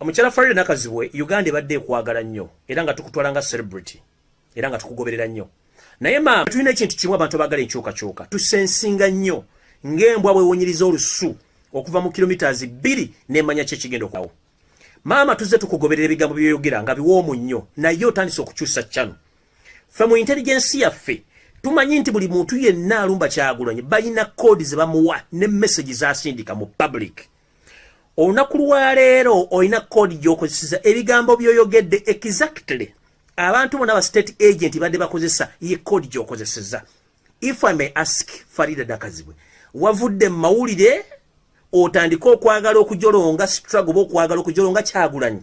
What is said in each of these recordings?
Omukyala Farida Nakazibwe Uganda ebadde ekwagala nnyo era nga tukutwala nga celebrity era nga tukugoberera nnyo naye maama tulina ekintu kimu abantu abagala enkyukakyuka tusensinga nnyo ng'embwa bwewunyiriza olusu okuva mu kilomitas bbiri nemanya ki ekigenda okuawo maama tuzze tukugoberera ebigambo byoyogera nga biwoomu nnyo naye otandise okukyusa cano ffe mu intelligensi yaffe tumanyi nti buli muntu yenna alumba kyagulanyi balina koodi ze bamuwa ne mesagi zasindika mu public olunaku lwaleero olina koodi gyokozeseza ebigambo byoyogedde exactly abantu bona ba state agent badde bakozesa ye koodi gyokozeseza if i may ask farida dakazibwe wavudde mu mawulire otandike okwagala okujolonga struggle oba okwagala okujolonga kyagulanyi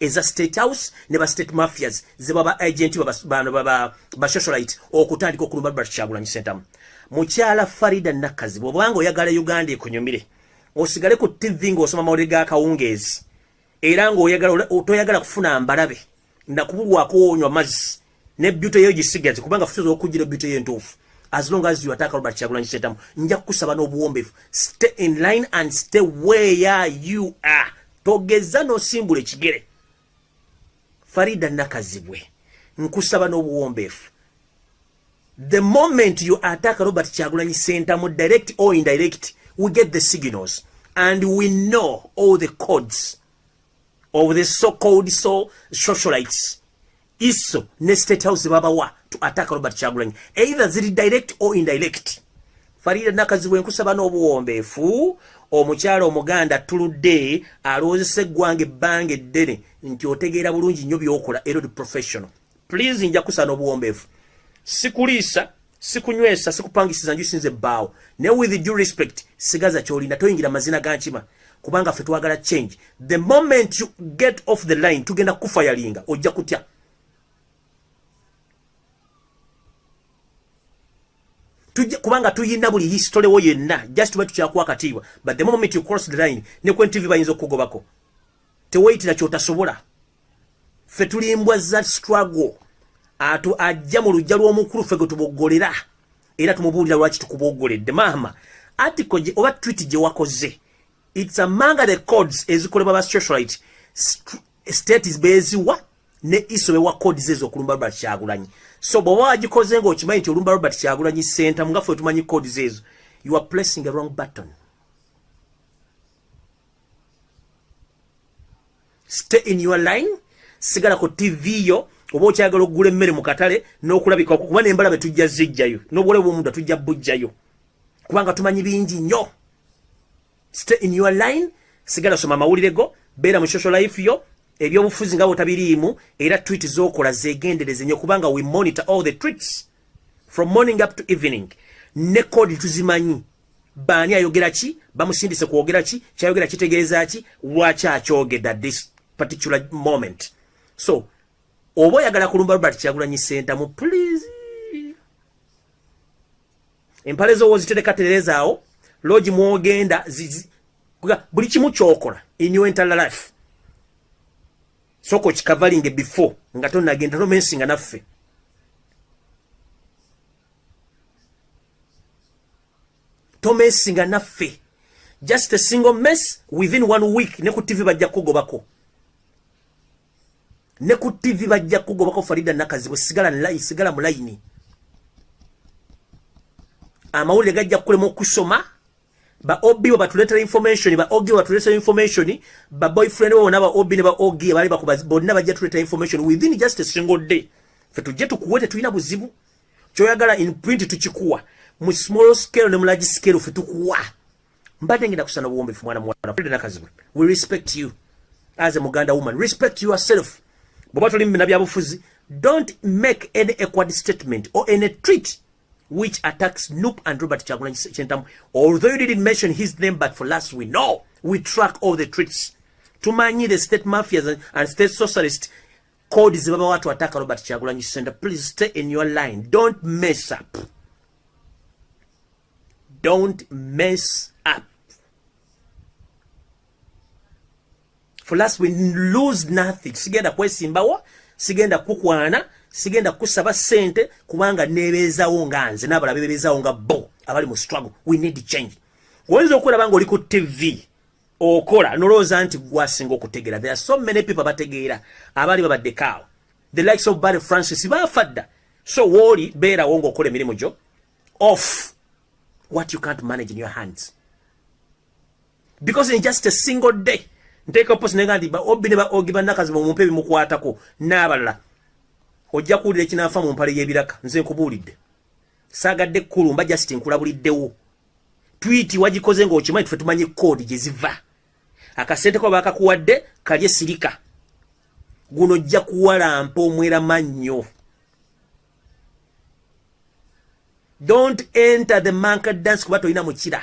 eza state house ne ba state mafias ze baba agent baba bano baba ba socialite okutandika okulumba Robert Kyagulanyi Ssentamu mukyala Farida Nakazi bwobanga oyagala Uganda ekunyumire osigale ku TV ng'osoma mawulire ga kawungeezi era ng'oyagala otoyagala kufuna mbalabe na kubulwako onywa mazzi ne beauty yo gisigaze kubanga fuso okujira beauty yo entuufu as long as you attack Robert Kyagulanyi Ssentamu nja kusaba n'obuwombefu stay in line and stay where you are togeza n'osimbula ekigere Farida Nakazibwe nkusaba n'obuwombefu the moment you attack Robert Kyagulanyi Ssentamu direct or indirect we get the signals and we know all the codes of the so called so socialites iso ne state house babawa to attack robert chagulanyi either ziri direct or indirect farida nakazibu enkusaba n'obuwombeefu omukyala omuganda attuludde aloozesa eggwanga ebbanga eddene nti otegeera bulungi nnyo byokola erod professional please nja kusana obuwombeefu sikuliisa sikunywesa sikupangisiza nju sinze baawo ne with due respect sigaza kyolina toyingira mazina ga nkima kubanga ffe twagala change the moment you get off the line tugenda kufa yalinga ojja kutya tujja kubanga tuyina buli history wo yenna just bwe tukyakuwa katiibwa but the moment you cross the line ne kwen tv bayinza okukugobako teweyitira kyotasobola ffe tuli mbwa za struggle atu ajja mu lujja lw'omukulu ffe gwe tuboggolera era tumubuulira lwaki tukuboggoledde maama article gye oba twiti gye wakoze its amanga the codes ezikolebwa ba socialite states beeziwa ne iso bewa codes ezo okulumba robert kyagulanyi so bw'oba wagikoze ng'okimanyi nti olumba robert kyagulanyi senta mugaffe otumanyi codes ezo you are placing a wrong button stay in your line sigala ku tv yo oba okyagala okugula emmere mu katale n'okulabika kuba nembala be tujja zijjayo n'obwole bwomuntu tujja bujjayo kubanga tumanyi bingi nnyo stay in your line sigala soma amawulire go beera mu social life yo ebyobufuzi nga botabiriimu era twit zokola zegendereze nyo kubanga we monitor all the tweets from morning up to evening ne kodi tuzimanyi baani ayogera ki bamusindise kwogera ki kyayogera kitegeeza ki lwaki akyogeda this particular moment so oba oyagala kulumba robert kyagulanyi sentamu please empale zowo ziterekaterezaawo logi mwogenda buli kimu kyokola in your entire life soko kikavalinge before nga tonagenda nomensinga naffe tomesinga naffe just a single mess within one week ne ku tv bajja kugobako ne ku tv bajja kugobako farida nakazibwe sigala nlayi sigala mulayini amawulire gajja kukulema okusoma ba ob bo batuletera information ba og batuletera information ba boyfriend bo bona ba ob ne ba og bali bakuba bonna bajja tuletera information within just a single day fe tujje tukuwe tetulina buzibu kyoyagala in print tukikuwa mu small scale ne mu large scale ffe tukuwa mbadde ngenda kusana obuwombefu mwana muwala Freda Nakazibwe we respect you as a Muganda woman respect yourself bwoba toli mumina byabufuzi don't make any equad statement or any treat which attacks Noop and Robert Chagulanyi Sentamu although you didn't mention his name but for us we know we track all the treats tumanyi the state mafias and state socialists kodi zibaba watu wataka Robert Chagulanyi Senda please stay in your line don't mess up don't mess up for us we lose nothing sigenda kwesimbawo sigenda kukwana sigenda kusaba sente kubanga nebezawo nga nze nabala bebezawo nga bo abali mu struggle we need change oyinza okulaba nga oli ku tv okola nolowooza nti gwasinga okutegeera there are so many people abategeera abaali babaddeko awo the likes of barry francis baafa dda so wooli beerawo ng'okola emirimu gyo off what you can't manage in your hands because in just a single day nteeka posi nenga nti baobi ne baogi bannakazi bamumpe ebimukwatako n'abalala ojja kuwulira ekinaafa mu mpale y'ebiraka nze nkubuulidde saagadde kkulumba just nkulabuliddewo twiti wagikoze ng'okimanyi tufe tumanyi koodi gye ziva akasente kuba bakakuwadde kalye sirika guno ojja kuwalampa omwera mannyo don't enter the manka dance kuba tolina mukira